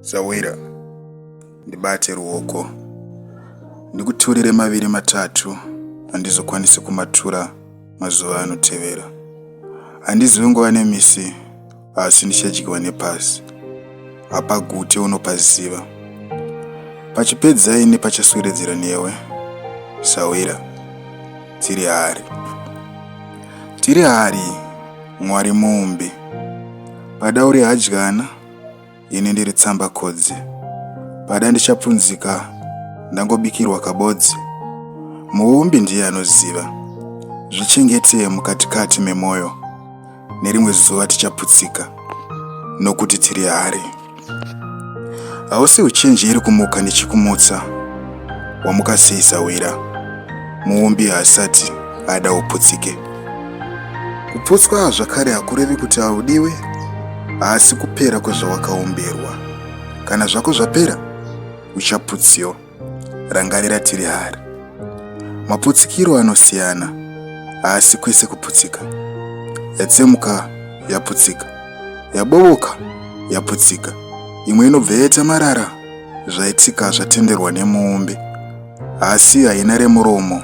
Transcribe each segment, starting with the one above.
Zawira, ndibate ruoko ndikuturire maviri matatu handizokwanisi kumatura mazuva anotevera. Handizivi nguva nemisi asi ndichadyiwa nepasi. Hapagute unopaziva. Pachipedza ini pachaswededzera newe, Sawira. Tiri hari. Tiri hari Mwari muumbi. Pada uri hadyana, ini ndiri tsamba kodzi. Pada ndichapfunzika ndangobikirwa kabodzi. Muumbi ndiye anoziva. Zvichengetee mukatikati memwoyo. Nerimwe zuva tichaputsika nokuti tiri hari. Hausi uchenjeri kumuka nechikumutsa wamuka sei sawira. Muumbi haasati ada uputsike. Kuputswa zvakare hakurevi kuti haudiwe, haasi kupera kwezvawakaumbirwa. Kana zvako zvapera, uchaputsiwa. Rangarira tiri hari. Maputsikiro anosiyana, haasi kwese kuputsika. Yatsemuka yaputsika, yabovoka yaputsika, imwe inobva yaita marara zvaitika zvatenderwa nemuumbi, asi haina remuromo.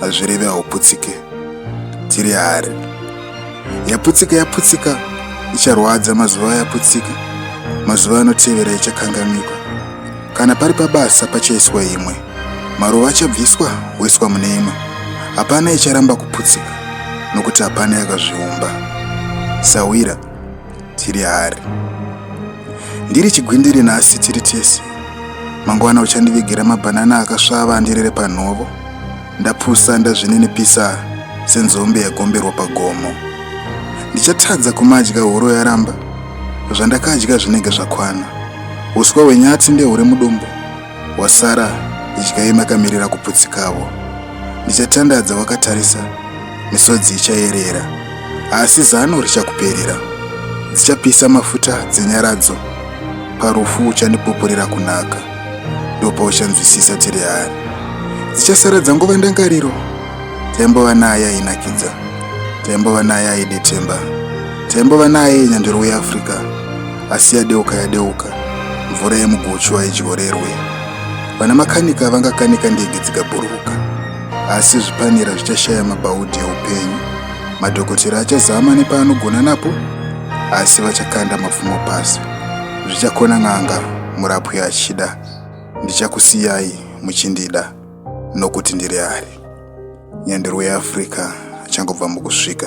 hazvireve hauputsike tiri hari yaputsika yaputsika icharwadza mazuva yaputsika mazuva anotevera ichakanganikwa kana pari pabasa pachaiswa imwe maruva achabviswa woiswa mune imwe hapana icharamba kuputsika nokuti hapana yakazviumba sawira tiri hari ndiri chigwindiri nhasi tiri tese mangwana uchandivigira mabhanana akasvava andirere panhovo ndapusa ndazvininipisa senzombe yagomberwa pagomo ndichatadza kumadya horo yaramba zvandakadya zvinenge zvakwana uswa hwenyati ndehuri mudumbu Wasara idyai makamirira kuputsikawo. Ndichatandadza wakatarisa, misodzi ichayerera. Asi zano richakuperera. Dzichapisa mafuta dzenyaradzo. Parufu uchandipupurira kunaka. Ndopauchanzwisisa tiri hari. Dzichasara dzangova ndangariro. Taimbova naye ainakidza. Taimbova naye aidetemba. Taimbova naye nyandoro weAfrica. asi yadeuka yadeuka mvura yemuguchu haidyorerwe vana makanika vangakanika ndege dzikabhururuka asi zvipanera zvichashaya mabhaudhi eupenyu madhokotera achazama nepaanogona napo asi vachakanda mapfumo pasi zvichakona n'anga murapwi achida ndichakusiyai muchindida nokuti ndiri ari nyandiro yeafrica achangobva mukusvika